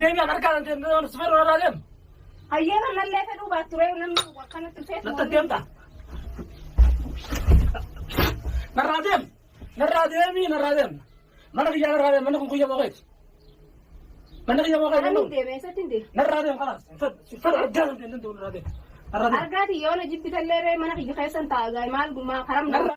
Deebii akka harkaan deemnee sifeera irraa deemu. Hayyee mallee fedhuu baatturee namni akkanatti dhufee Natti deemta. Narraa deem. Narraa deemii narraa deem. Mana kiyyaa narraa deem. Manni kun kiyya booqeeti. Manni kiyya booqeeti. Ani deeme eessatti hin deeme. Narraa deem kanaas. Fedha addaa hin deemne deemu narraa deem. Narraa deem. Argaati yoo na jibbi tallee ree mana kiyya keessan taa'a gaa'e maal gumaa karam Narraa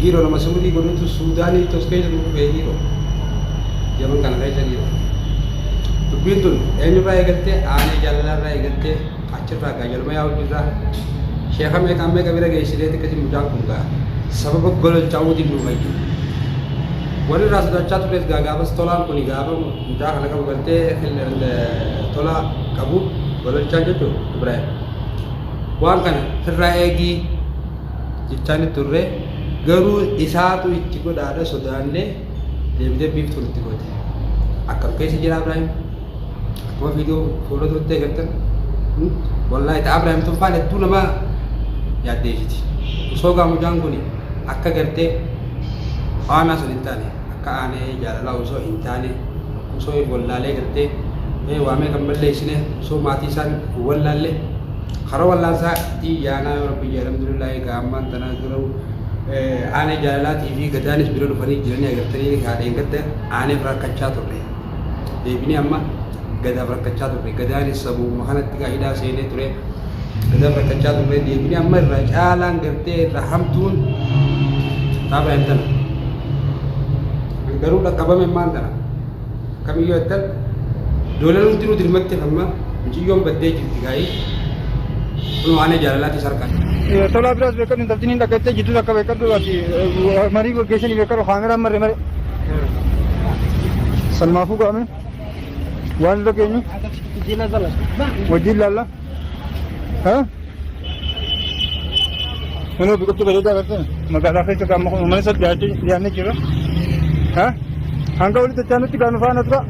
Dhiiroo nama suudii godhutu suudaanii tos keessa gurguree dhiiroo. Yaman kana keessa dhiiroo. Dubbiin tun eenyurraa eegattee aanee jaalallarraa eegattee achirraa gaa jaluma yaa hojirraa sheeka meeqaan meeqa bira geessinee xiqqati mucaan kun gaa sababa gololchaa'uutiin nu fayyadu. Warri irraa sodaachaa tures gaa gaafas tolaan kun gaafa mucaa kana qabu galtee tolaa qabu gololchaa jechuun Ibrahim. Waan kana firraa eegii jechaani turre garuu isaatu itti godhaadha sodaanne deebitee biiftuu nutti goote akkam keessa jira Abraahim akkuma viidiyoo fuula turtee gartan wallaahi ta Abraahim tuffaan hedduu nama yaaddeessiti osoo gaamujaan kun akka gartee faanaa sun hin taane akka aanee jaalalaa osoo hin taane osoo wallaalee gartee waamee kan balleessine osoo maatii isaan wallaalle Haroo Wallaansaa ii yaanaa yoo rabbi jee alhamdulillah egaa ammaan tanaa garuu aanee jaalalaatii fi gadaanis bira dhufanii jiranii agartanii haa dheengadda aaneef rakkachaa turre deebinee amma gadaaf rakkachaa turre gadaanis sabuuma kanatti gaa hidhaa seenee ture gadaaf rakkachaa turre deebinee amma irra caalaan gartee irra hamtuun taaba hin tana garuu dhaqqabame maan tana Akkamiyyuu attan doolan hundinuu dirmatti hamma miciyyoon baddee jirti gaa'ii kun waan jaalalaatti sarkaa. Tolaa biraas beekadhu intaltiin hin dhaggattee jidduu akka beekadhu ati marii gaggeessanii beekadhu kaameraan marre mare. Salmaafuu ga'ame waan irra geenyu wajjin laalla. Kunoo biqiltuu bareedaa agartee magaalaa keessa gaamma kun uummanni sadii dhiyaachuu dhiyaannee jira. Ha? Hanga walitti itti aanutti gaanu faana tura.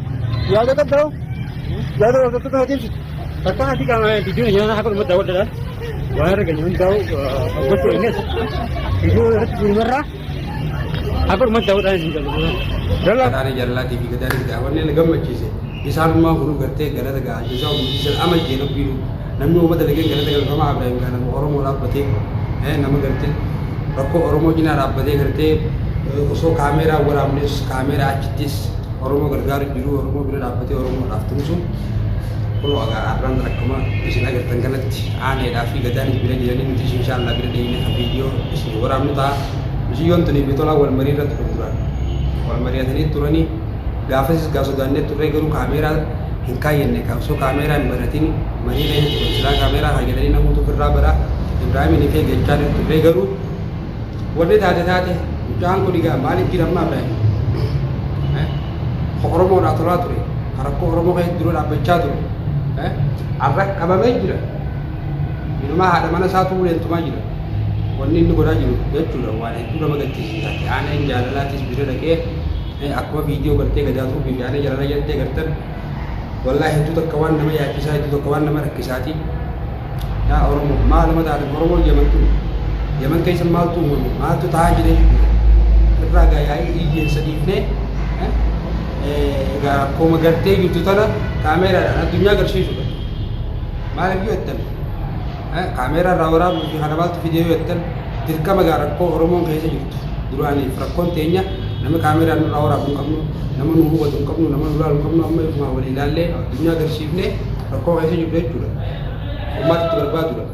Yaada qabda hoo? Yaada hordoftoota na deemsitu. Akka ati qaama biyyoon ayyaana akka dhumatti daawwadhaan waan argame hundaa'u gochuu eegas. Biyyoon irratti gurgurraa. Akka dhumatti daawwadhaan isin galu. Gadaanii jaalalaatii fi gadaanii daawwannee na gammachiise. Isaan ammaa kun gartee galata ga'a. Isaa hundi sana ama jee rabbiinu. Namni uummata lageen galata galu kama Abiraahim gaa nama Oromoo dhaabbatee nama gartee rakkoo Oromoo cinaa dhaabbatee gartee osoo kaameeraa waraabnes kaameeraa achittis Oromoo gargaaru jiru Oromoo bira dhaabbatee Oromoo dhaaf tumsu. Kunoo agaa arraan akkuma isin agartan kanatti aaneedhaa fi gadaan bira jiranii nuti inshaallaa bira deemnee kan viidiyoo isin waraabnu ta'a. Miciyyoon tuni fi tolaan wal marii irratti gurguran. Wal mari'atanii turanii gaafasis gaa sodaannee turree garuu kaameeraa hin kaayyanne kaa osoo kaameeraa hin banatiin marii keessa turan silaa kaameeraa kaayyananii namoota ofirraa bara Ibraahimin kee jechaa hin turree garuu wanni taate taate mucaan kun egaa maaliif jira ammaa Ibraahim? Ka Oromoodhaa tolaa ture, ka rakkoo Oromoo keessa dura dhaabbachaa ture, arra qabamee jira. Inumaa haadha mana isaatu uleen tumaa jira. Wanni inni godhaa jiru jechuudha waan hedduu nama gaddisiisa. Aaneen jaalalaatis bira dhaqee akkuma viidiyoo gartee gadaatuu fi aanee jaalalaa jettee gartan wallaa hedduu takka waan nama yaachisaa hedduu takka waan nama rakkisaati. Yaa Oromoo maal nama taatan Oromoo Yaman kun Yaman keessa maaltu uumame maaltu ta'aa jira jechuudha. Irraa gaayaa'ii iyyeessa dhiifnee egaa akkuma gartee jirtu tana kaameeraadhaan addunyaa agarsiisudha. Maaliif yoo jettan kaameeraa irraa waraabuu fi kana maaltu fidee yoo jettan dirqama gaa rakkoo Oromoon keessa jirtu duraaniif rakkoon teenya nama kaameeraa nurraa waraabuu hin qabnu nama nu hubatu hin qabnu nama nu laalu hin qabnu amma ifumaa walii ilaallee addunyaa agarsiifnee rakkoo keessa jirru jechuudha. Uummata itti barbaadudha.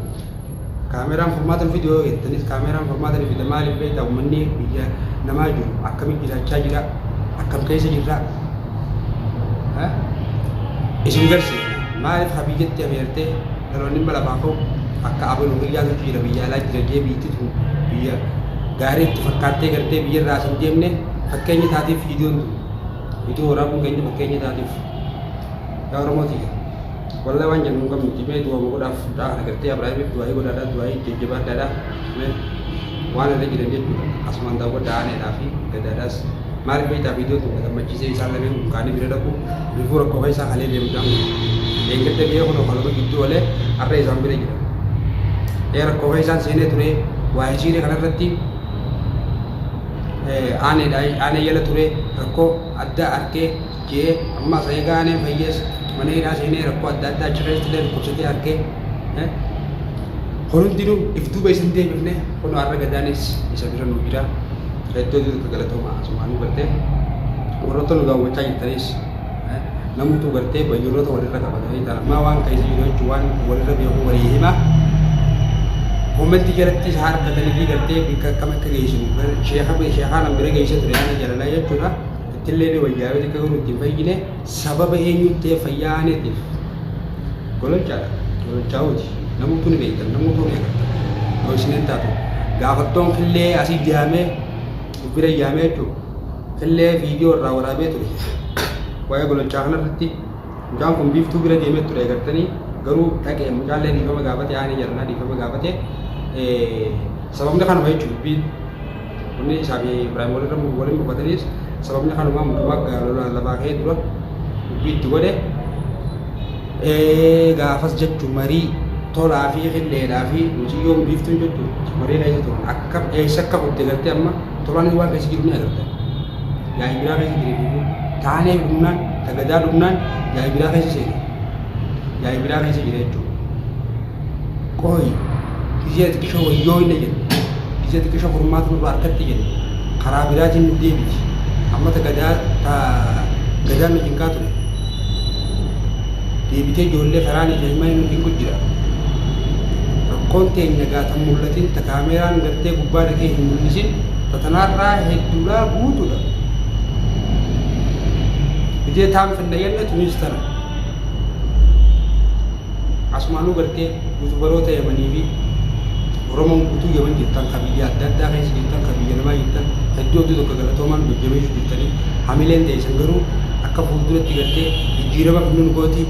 Kaameraan furmaata nu fide yoo jettanis kaameraan furmaata nu fida maaliif beektaa uummanni biyya namaa jiru akkamitti jiraachaa jira akkam keessa jirra isin garsiifna maaliif ha biyyatti ameertee dhaloonni hin balafaa ka'u akka abaluu biyyaa nuti jira biyya alaa jira jee biyyatti tun biyya gaarii itti fakkaattee gartee biyya irraa asin deemne fakkeenya taatiif viidiyoon tun viidiyoo waraabuun keenya fakkeenya taatiif yaa oromootii Wallahi waan jennu hin qabnu jimee du'aama godhaaf fudhaa kana gartee Abraahimiif du'aa'ii godhaadhaa du'aa'ii jajjabaadhaadhaa mee waan irra jiran jechuudha asumaan daawwadhaa aaneedhaa fi gadaadhaas maaliif beektaa viidiyoon tokko gammachiisee isaan lameen kun kaanii bira dhaqu rifuu rakkoo keessaa kalee deemu isaan kun eeggatta biyya kun okalama gidduu olee har'a isaan bira jira ee rakkoo keessaan seenee ture waa hisiiree kanarratti aaneedhaa aanee yala ture rakkoo addaa arkee Jee amma asayee gaanee fayyees mana hidhaa seenee rakkoo adda addaa achi keessa illee dhukkubsatee argee kun hundinuu if duuba isin deebifne kun har'a gadaanis isa bira nu jira hedduu hedduu galatooma asumaan nu gartee warroota nu daawwachaa jirtanis namuutu gartee bayyuurota walirra qabatanii ta'a maa waan keessa jiru jechuun waan walirra beeku walii hima koommentii jalatti isa harkatanii fi gartee bikka akkam akka geessinu sheekaa nama bira geessee ture yaada jalalaa jechuudha. Tilleeni woyaawe tika garuu itti hin fayyine sababa eenyuun ta'e fayyaa aaneetiif gololchaadha. Gololchaa'uuti. Namuutu ni beektan, namuutu ni agartan. Yoo isin hin taatu gaafattoon killee asii yaamee uffira yaamee jechuun killee viidiyoo irraa waraabee ture. Waa'ee gololchaa kanarratti mucaan kun biiftuu bira deemee ture agartanii garuu dhaqee mucaallee dhiifama gaafate aanee jaranaa dhiifama gaafate sababni kanuma jechuudha. Wanni isaa fi Ibraahim walirra walin mufataniis sababni kanumaa mutumaa gaalola lafaa kee dura dubbii itti godhe ee gaafas jechu marii tolaa fi qilleedhaa fi muciyyoon biiftuun jechu marii keessa turan akka eessa akka kutte gartee amma tolaanis waan keessa jiru ni agarta yaa'ii biraa keessa jira duubu taanee dhumnaan tagadaa dhumnaan yaa'ii biraa keessa seena yaa'ii biraa keessa jira jechuudha. Qooyi gizee xiqishoo wayyoo inni jedhe gizee xiqishoo furmaata nurraa harkatti jedhe karaa biraatiin nu deebiti ammata gadaa ta gadaa nu jinkaa ture deebitee ijoollee karaan ijoollee nu jinku jira rakkoon teenya gaatan mul'atin ta kaameeraan gartee gubbaa dhaqee hin mul'isin ta tanaarraa hedduudhaa guutuudha gizee taan finna yenna tunis tana Asumaanuu gartee yuutubaroota yamanii fi Oromoon guutuu yaman jirtan ka biyya adda addaa keessa jirtan ka biyya namaa jirtan hedduu hedduu tokko galatoomaan jajjabeessu jirtanii hamileen teessan garuu akka fuulduratti gartee jijjiirama fidnu nu gooti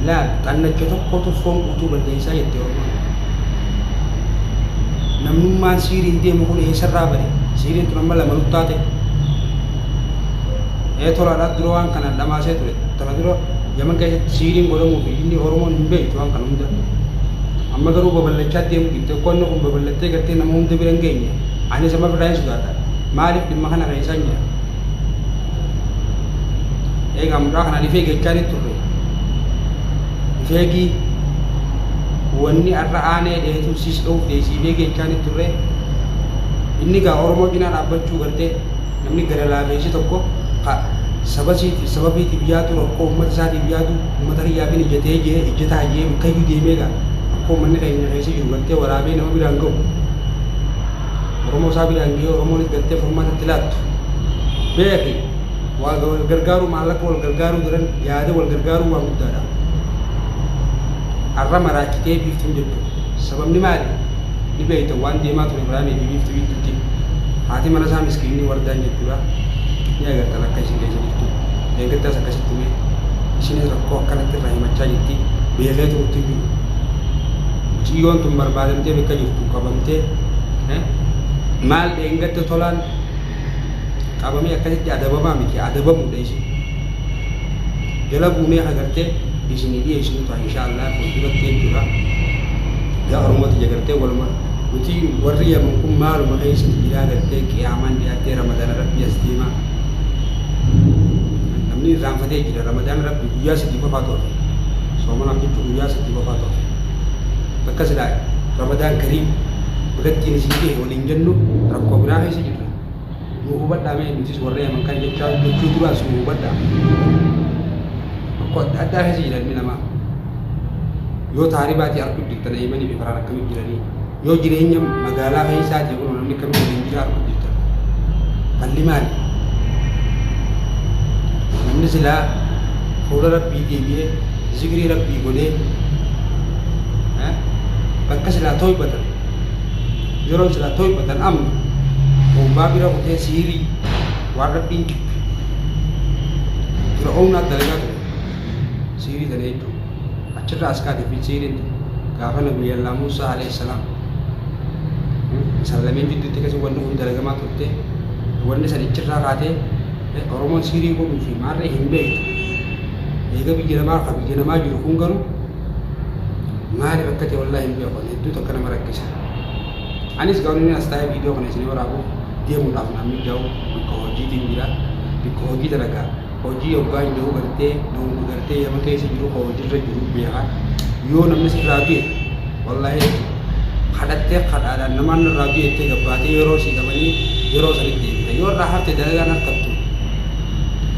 laal xannacha tokkotu foon guutuu balleessaa jette Oromoon namnummaan siiriin deemu kun eessarraa bade siiriin tun amma lama nuttaate Ee tolaadha dura waan kanaan dhamaasee ture. Tana dura Yaman keessatti siiriin godhamuu fi inni Oromoon hin beektu waan kana hunda. Amma garuu babal'achaa deemuu didde qo'anno kun babal'attee gartee nama hunda bira hin geenye. Anis amma birraa hin sodaadha. Maaliif dhimma kana keessaan jira? Eegaa mucaa kanaan ifee gechaa ni turre. Ifeegii wanni har'a aanee dheetu siis dha'uuf deesiifee gechaa ni turre. Inni gaa Oromoo cinaa dhaabbachuu gartee Namni gara laafeessi tokko ka saba isiitiif sababiitiif yaadu rakkoo uummata isaatiif yaadu uummata kiyyaaf hin ijjatee jee ijjataa jee bakkayyuu deemee gaa rakkoo uummanni keenya keessa jiru gartee waraabee nama biraan ga'u Oromoo isaa biraan ga'ee Oromoonis gartee furmaata itti laattu beeki waa wal gargaaruu maallaqa wal gargaaruu daran yaada wal gargaaruu waan guddaadha har'a maraachitee biiftuun jirtu Sababni maali? Ni beekta waan deemaa ture Ibraahimii fi Biiftuu gidduutti. Haati mana isaa miskiinni Wardaan jechuudha. Ni agartan akka isin keessa jirtu. Deeggartaas akkasitti mee. Isinis rakkoo akkanatti irraa himachaa jirti. Beekee turutti hin jiru. Mucayyoon tun barbaadamtee bakka jirtu qabamtee eh, maal dheengadda tolaan qabamee akkasitti adabamaa miti adabamuudha isin jala buunee agartee isin dhiyeessinu ta'a inshaallah fuulduratti jechuudha gaarumatti jagartee waluma nuti warri yaman kun maaluma keessatti jira agartee qiyaamaan dhiyaattee ramadaan rabbi as deema namni irraanfatee jira ramadaan rabbi guyyaa sadii qofaa ture soomana jechuun guyyaa sadii qofaa ture bakka silaa ramadaan kariim birattiin isin dhihe waliin jennu rakkoo biraa keessa nu hubadhaa mee nutis warri aman kan jechaa jechuu duraas nu hubadhaa tokko adda addaa keessa jiran namaa yoo taaribaatii arguu jirtan eeymanii fi faraan akkamii jiranii yoo jireenya magaalaa keessaatii kun namni akkamii waliin jira arguu jirtan falli maali namni silaa fuula rabbii deebi'ee zikrii rabbii godhee bakka silaa toybatan yeroo silaa toyfatan amma bombaa bira kutee siirii waan rabbiin jibbe fir'oomnaat dalagaa ture siirii tana jechuun achirraa as kaate fi siiriin tun gaafa nabi yallaa muusaa alayhi salaam isaan lameen jidduutti keessa wanni kun dalagamaa turte wanni san ichirraa kaatee oromoon siirii godhuu fi maarree hin beektu eega biyya namaa ka biyya namaa jiru kun garuu maaliif akka ta'e wallaahi hin beeku hedduu takka nama rakkisa. Anis gaawwanni as taa'ee viidiyoo kana isin waraabuuf deemuudhaaf naan mijaa'u bakka hojiitiin jira. Bakka hojii dalagaa hojii hoggaa hin jiru gartee dhoowwu gartee yeroo keessa jiru ka hojiirra jiru beekaa yoo namni sirraa du'e wallahi kadhattee kadhaadhaan namaan irraa du'e itti gabbaatee yeroo sii qabanii yeroo sanitti deebita yoo irraa hafte dalagaan harkattu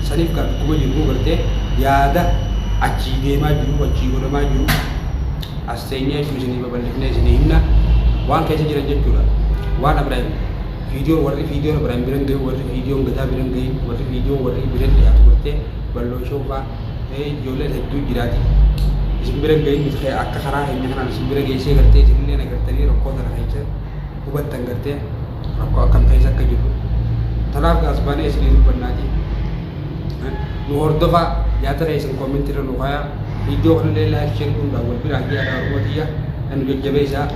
saniif kan akkuma jiru gartee yaada achii deemaa jiru achii godhamaa jiru As teenyee ituu isinii babal'ifnee isinii himna waan keessa jiran jechuudha. Waan Abiraahim viidiyoon warri viidiyoon Abiraahim biran ga'e warri viidiyoon gadaa biran ga'e warri viidiyoon warri biran dhiyaatu gortee bal'oo shoofaa ta'ee ijoolleen hedduu jiraati. Isin biran ga'in nuti kee akka karaa keenya kanaan isin bira geessee gartee isin illee nagartanii rakkoo sana keessa hubattan gartee rakkoo akkam keessa akka jirru. Tanaaf gaas baanee isinii dubbannaatii. nu hordofaa yaada keessan comment irra nu kaayaa viidiyoo kanallee like share godhuudhaan wal biraan ga'aa yaa oromoo tiyya kan nu jajjabeessaa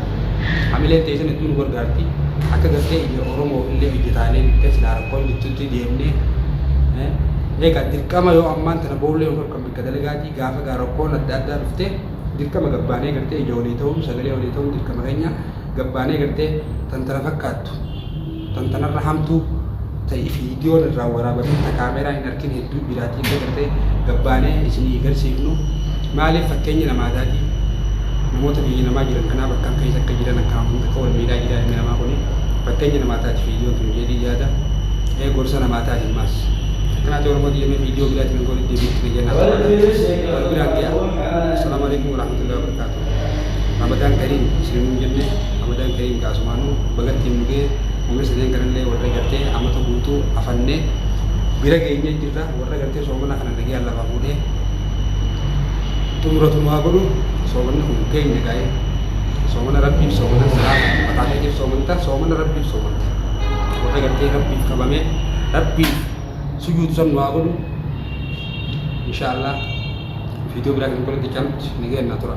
hamileen teessan hedduu nu gargaarti akka gartee ija oromoo illee hojjetaalee bittee silaa rakkoon jirtutti deemnee egaa dirqama yoo ammaan tana boollee yookaan kan bakka dalagaatii gaafa gaa rakkoon adda addaa dhuftee dirqama gabbaanee gartee ija walii ta'uun sagalee walii ta'uun dirqama keenya gabbaanee gartee tan tana fakkaattu Tan tanarra hamtuu ta viidiyoon irraa waraabamee ta kaameeraan hin arkin hedduu jiraatii illee gartee gabbaanee isinii garsiifnu maaliif fakkeenyi namaadaatii namoota biyya namaa jiran kanaa bakkaan keessa akka jiran akkaan hunda akka wal miidhaa jiraa ilmi namaa kuni fakkeenya namaa taati viidiyoon tun jedhii yaada ee gorsa namaa taati maas akkanaati oromoo diyyamee viidiyoo biraatiin goon itti deebiitti fayyadama wal biraan ga'a. Assalamu alaikum warahmatullahi wabarakatuh. Ramadan Kareem isinin hin jenne Ramadan Kareem gaa sumaanu baga ittiin nu ga'e umri sadeen kanallee warra gartee amata guutuu afanne bira geenye jirra warra gartee soomana kana nagayaan lafaa fuudhee xumuratu nu haa godhu soomanni kun keenya gaa'e soomana rabbiif soomana siraa mataa keetiif soomanta soomana rabbiif soomanta warra gartee rabbiif qabame rabbiif sujuudu san nu haa godhu insha Allah Viidiyoo biraatiin walitti qabnutti nagayaan naa tura.